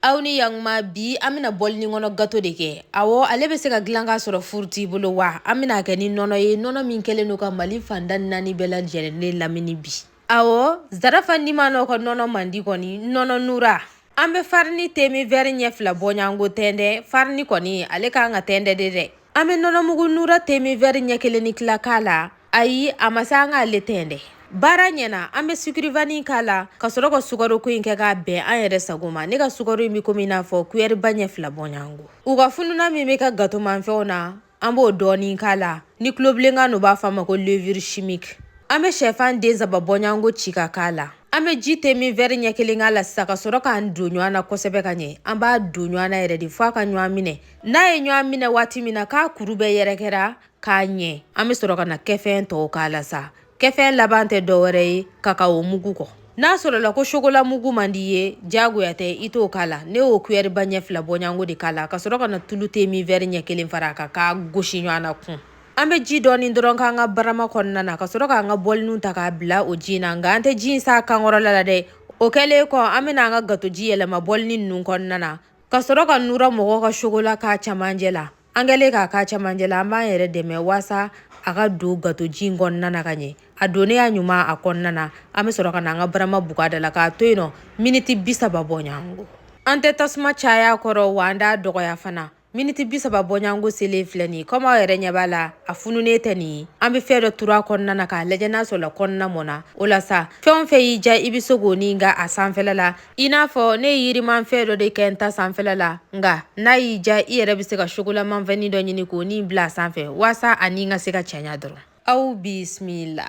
aw ni yakuma bi an bɛna bɔlini kɔnɔ gato de kɛ awɔ ale bɛ se ka dilan k'a sɔrɔ furu t'i bolo wa an bɛna a kɛ ni nɔnɔ ye nɔnɔ min kɛlen don ka mali fan tan ni naani bɛɛ lajɛlen lamini bi awɔ zarafa nimanɔ ka nɔnɔ man di kɔni nɔnɔ nura an bɛ farini te min vɛri ɲɛ fila bɔɲango tɛndɛ farini kɔni ale ka kan ka tɛndɛ de dɛ an bɛ nɔnɔmugu nura te min vɛri ɲɛ kelen ni tila k'a la ayi a ma se an k'ale tɛndɛ baara ɲɛna an bɛ sucre vanille k'a la ka sɔrɔ ka sukaro ko in kɛ k'a bɛn an yɛrɛ sago ma ne ka sukaro in bɛ komi i n'a fɔ kuyɛriba ɲɛ fila bɔɲango u ka fununan min bɛ ka gatomanfɛnw na an b'o dɔɔnin k'a la ni tulobilenkan n'u b'a fɔ a ma ko levure chimique an bɛ shɛfan den saba bɔɲango ci ka k'a la an bɛ ji te min vɛri ɲɛ kelen k'a la sisan ka sɔrɔ k'an don ɲɔgɔn na kosɛbɛ ka ɲɛ an b'a don ɲɔgɔn na yɛrɛ de fɔ a ka ɲɔgɔn minɛ n'a ye ɲɔgɔn minɛ waati min na k'a kuru bɛɛ yɛrɛkɛra ka ɲɛ an bɛ sɔrɔ ka na kɛfɛn tɔw k'a la sa kɛfɛn laban tɛ dɔwɛrɛ ye kakao mugu kɔ n'a sɔrɔla ko sokola mugu man d'i ye diyagoya tɛ i t'o k'a la ne y'o kuyɛri ba ɲɛ fila bɔɲango de k'a la ka sɔrɔ ka na tulu te min vɛri ɲɛ kelen fara a kan k'a gosi ɲɔgɔn na kun an bɛ ji dɔɔni dɔrɔn k'an ka barama kɔnɔna na ka sɔrɔ k'an ka bɔliniw ta k'a bila o ji na nka an tɛ ji in s'a kankɔrɔla la dɛ o kɛlen kɔ an bɛna an ka gatoji yɛlɛma bɔlini ninnu kɔnɔna na ka sɔrɔ ka nura mɔgɔw ka sokola k'a camancɛ la An kɛlen k'a k'a camancɛ la an b'an yɛrɛ dɛmɛ waasa a ka don gatoji in kɔnɔna na ka ɲɛ a donnenya ɲuman a kɔnɔna an bɛ sɔrɔ ka na an ka barama bug'a da la k'a to yen nɔ miniti bi saba bɔɲɔgɔngo an tɛ tasuma caya a kɔrɔ wa an t'a dɔgɔya fana miniti bi saba bɔɲɔgɔngo selen filɛ nin komi aw yɛrɛ ɲɛ b'a la a fununen tɛ nin ye an bɛ fɛn dɔ turu a kɔnɔna na k'a lajɛ n'a sɔrɔla kɔnɔna mɔna o la sa fɛn fɛn y'i ja i bɛ se k'o nin ka a sanfɛ la I n'a fɔ ne ye yirimanfɛn dɔ de kɛ n ta sanfɛla la nka n'a y'i ja i yɛrɛ bɛ se ka sokolamanfɛnnin dɔ ɲini k'o nin bila a sanfɛ waasa a nin ka se ka cɛɲa dɔrɔn aw bisimila.